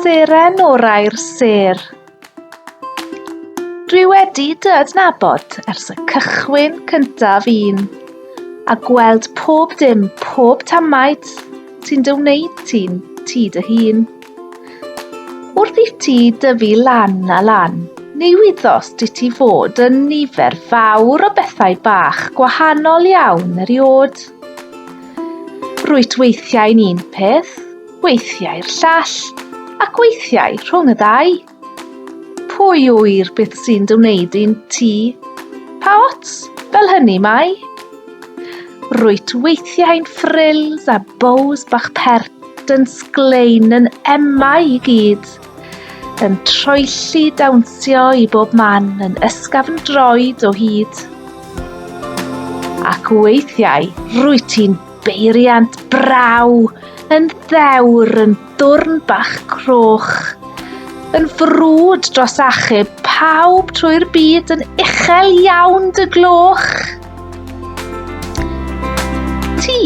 Seren orau'r sêr. Dwi wedi dy adnabod ers y cychwyn cyntaf un, a gweld pob dim, pob tamaid sy'n dy wneud ti'n ti dy hun. Wrth i ti dyfu lan a lan, ni wyddos di ti fod yn nifer fawr o bethau bach gwahanol iawn eriod. Rwyt weithiau'n un peth, weithiau'r llall, ac weithiau rhwng y ddau. Pwy ŵyr beth sy'n dy wneud i'n ti? Pa ots, fel hynny mae? Rwyt weithiau'n frills a bows bach pert yn sglein yn emau i gyd. Yn troelli dawnsio i bob man yn ysgafn droed o hyd. Ac weithiau rwy ti'n beiriant braw yn ddewr yn dwrn bach croch, yn frwd dros achub pawb trwy'r byd yn uchel iawn dy gloch. Ti,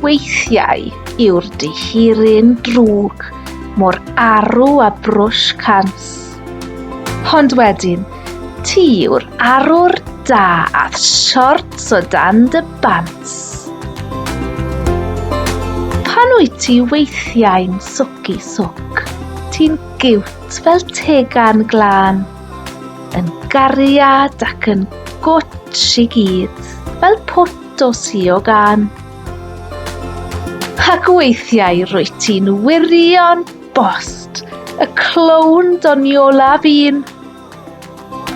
weithiau, yw'r dihiryn drwg, mor arw a brwsh cans. Ond wedyn, ti yw'r arwr da ath siorts o dan dy bants. Pan wyt ti weithiau'n swc i swc, ti'n giwt fel tegan glân. Yn gariad ac yn gwtsh i gyd, fel pwt o sio gan. Ac weithiau rwyt ti'n wirio'n bost, y clown doniola fi'n.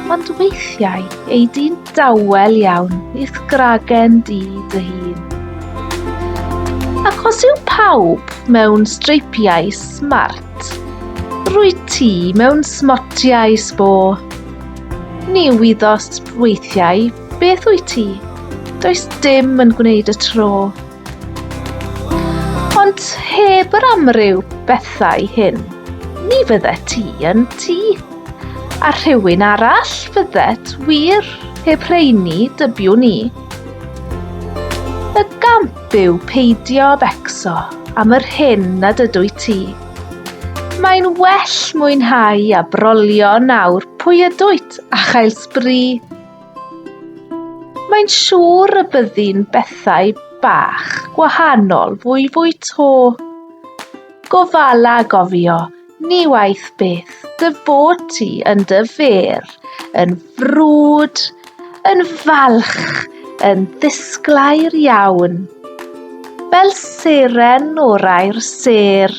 Ond weithiau ei di'n dawel iawn i'th gragen di dy hun. Ac os yw pawb mewn streipiau smart, Rwyt ti mewn smotiau sbo. Ni wyddos weithiau beth wyt ti, does dim yn gwneud y tro. Ond heb yr amryw bethau hyn, ni fydde ti yn ti. A rhywun arall fyddet wir heb rheini dybiwn ni. Y gamp Byw peidio becso am yr hyn nad ydw i ti. Mae'n well mwynhau a brolio nawr pwy ydwyt a chael sbri. Mae'n siŵr y byddi'n bethau bach gwahanol fwy fwy to. Gofala gofio Ni waeth beth dy bod ti yn dy fer, yn frwd, yn falch, yn ddisglair iawn, fel seren o'r air sêr.